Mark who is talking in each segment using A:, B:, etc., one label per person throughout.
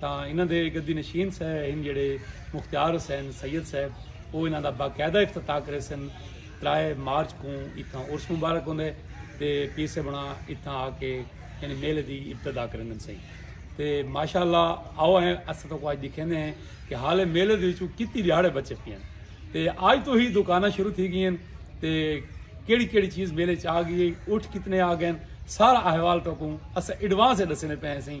A: تاں انہاں دے گدی نشین سہ ہن جیڑھے مختیار حسین سید صاحب او انہاں دا باقاعدہ افتتاح کریسن ترائے مارچ کوں اتھاں عرس مبارک ہوندے تے پیسے بنا اتھاں آ کے یعنی میلے دی ابتدا کریندن سئیں تے ماشاءاللہ آؤ ہیں اساں تو اج دکھیندے ہیں کہ حالے میلے دے وچوں کتی دیہاڑے بچے پی ہیں تے اج تو ہی دکاناں شروع تھی گئی ہیں تے کیڑی کیڑی چیز میلے چ آ گئی اٹھ کتنے آ گئے سارا احوال تو کو اساں ایڈوانس دسنے پے ہیں سئیں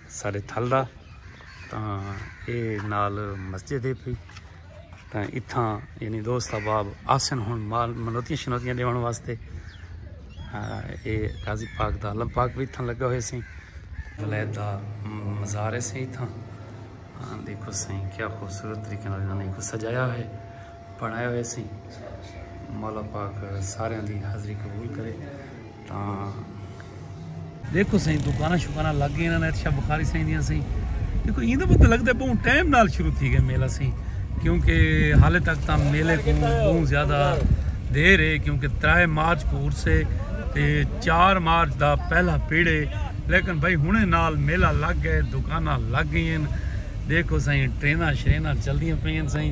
A: سارے تھل دا تاں اے نال مسجد ہے پی تاں اتھاں یعنی دوست احباب آسن ہن مال منوتیاں شنوتیاں دیون واسطے اے قاضی پاک دا علم پاک بھی اتھاں لگا ہوئے سیں ولید دا مزار ہے سیں اتھاں دیکھو سیں کیا خوبصورت طریقے نال انہاں نے کو سجایا ہوئے بنایا ہوئے سیں مولا پاک سارے دی حاضری قبول کرے دیکھو سائیں دکاناں شکاناں لگ گئے انہاں نے ارشا بخاری سائیں دیاں سائیں دیکھو ایندا پتہ لگدا بہوں ٹائم نال شروع تھی گئے میلہ سائیں کیونکہ حالے تک تاں میلے کو بہوں زیادہ دیر ہے کیونکہ ترائے مارچ کو عرس ہے تے چار مارچ دا پہلا پیڑ ہے لیکن بھائی ہنے نال میلہ لگ گئے دکاناں لگ گئین دیکھو سائیں ٹریناں شریناں چل دیاں پئین سائیں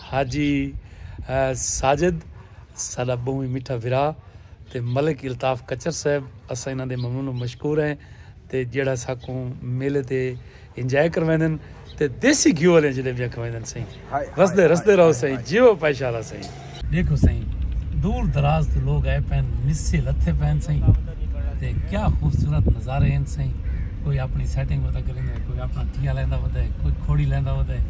A: حاجی ساجد ساڈا بہوں ہی میٹھا بھرا تے ملک الطاف کچر صاحب اساں انہاں دے ممنون و مشکور ہیں تے جیڑھا ساکوں میلے تے انجوائے کرویندن تے دیسی گھیو آلیاں جلیبیاں کھویندن سئیں وسدے رسدے رہو سئیں جیو پائشالا سئیں۔ ڈیکھو سئیں دور دراز توں لوگ آئے پئن مسے لتھے پئن سئیں تے کیا خوبصورت نظارے ہن سئیں کوئی اپنڑی سیٹنگ ودا کریندے کوئی اپنڑا ٹیا لیندا ودا ہے کوئی کھوڑی لیندا ودا ہے۔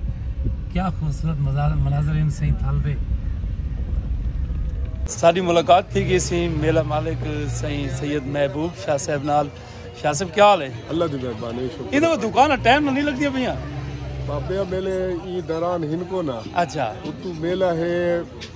A: کیا خوبصورت مناظر ہن سئیں تھل دے۔ ساڈی ملاقات تھی گئی سی میلہ مالک سئیں سید محبوب شاہ صاحب نال۔ شاہ صاحب کیا حال ہے؟ اللہ دی مہربانی شکر ہے۔ ایندے دکان نا ٹائم نا نہیں لگدیاں پیاں۔ بابیاں
B: میلے ایں دوران ہن کو نا۔ اچھا۔ اتو
A: میلہ ہے۔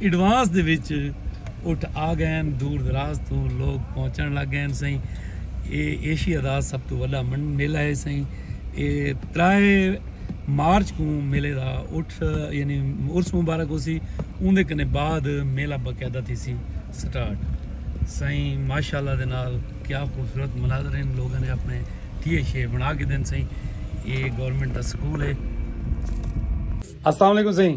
A: ایڈوانس دے وچ اٹھ آ گئن دور دراز توں لوگ پہنچن لگ گئن سئیں اے ایشیا دا سب تو وڈا منڈ میلہ ہے سئیں اے ترائے مارچ کوں میلے دا اٹھ یعنی عرس مبارک ہو سی اون دے کنے بعد میلہ باقاعدہ تھی سی سٹارٹ سئیں ماشاءاللہ دے نال کیا خوبصورت مناظر ہیں لوگوں نے اپنے ٹھیے شے بنا کے دن سئیں اے گورنمنٹ دا سکول ہے السلام علیکم سئیں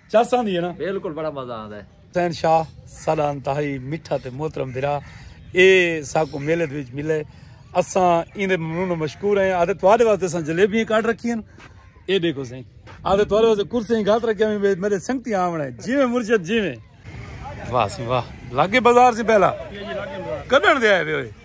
A: چس آندی ہے نا بالکل بڑا مزہ آندا ہے
C: حسین شاہ
A: ساڈا انتہائی میٹھا تے محترم بھرا اے ساکو میلے دے وچ ملے اساں این دے ممنون و مشکور ہیں آدھے تواڈے واسطے اساں جلیبیاں کاٹ رکھی ہیں اے دیکھو سائیں آدھے تواڈے واسطے کرسیاں گھات رکھیا میں میرے سنگتی آونا ہے جیویں مرشد جیویں واہ سی واہ لاگے بازار سی پہلا کڈن دے آئے ہوئے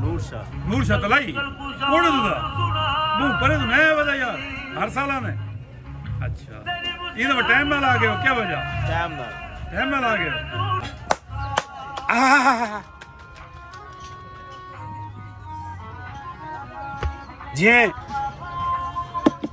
A: نور شاہ نور شاہ تلائی کون ہے دا بو پرے تو نیا ودا یار ہر سال آنے اچھا یہ تو ٹائم نال آ گئے ہو کیا وجہ ٹائم نال ٹائم نال آ گئے جی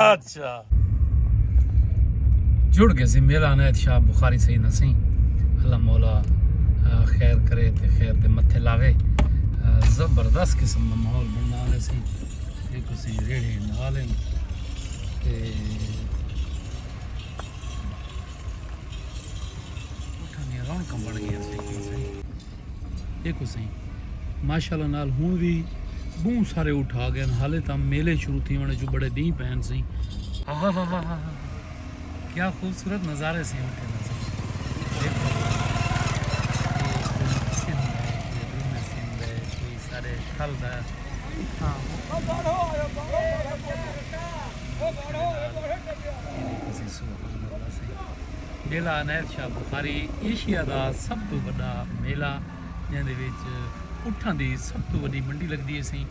A: اچھا جڑ گئے سی میرا عنایت شاہ بخاری سید ہسیں اللہ مولا خیر کرے تے خیر دے متھے لاوے زبردست قسم دا ماحول بننا آنے سی ایک اسی ریڑھے نالیں تے اٹھا گیا رونکم بڑھ گیا سی ڈیکھو سئیں ماشاءاللہ نال ہن وی بہوں سارے اٹھ آ گئے حالے تاں میلے شروع تھیون وچوں بڑے ڈینہہ پئے ہن سئیں ہاہاہاہاہا کیا خوبصورت نظارے سئیں اٹھے دا
D: سئیں سارے ٹھل دا
A: میلہ عنایت شاہ بخاری ایشیا دا سب توں وݙا میلہ جیندے وچ اٹھاں دی سب توں وݙی منڈی لڳدی ہیسی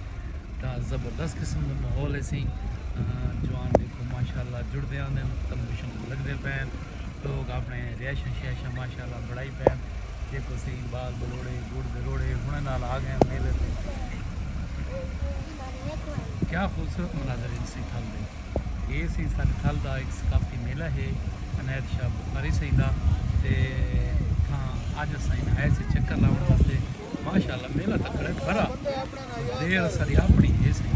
A: تا زبردست قسم دا ماحول ہیسی جوان دیکھو ماشاءاللہ جڑدے آندے تمبو شمبو لڳدے پئے لوگ اپنے ریشاں شیشاں ماشاءاللہ بݨائی پئے دیکھو صحیح بال بلوڑے گڑ دے روڑے ہݨ نال آ ڳئے میلے تے کیا خوبصورت مناظر ہن سئیں تھل دے۔ اے سئیں ساڈے تھل دا ہک ثقافتی میلہ ہے عنایت شاہ بخاری سئیں دا تے اتھاں اج اساں ہن آئے سے چکر لاونڑ واسطے ماشاءاللہ میلہ تکڑے بھرا دیر اساڈی اپنڑی ہے سئیں۔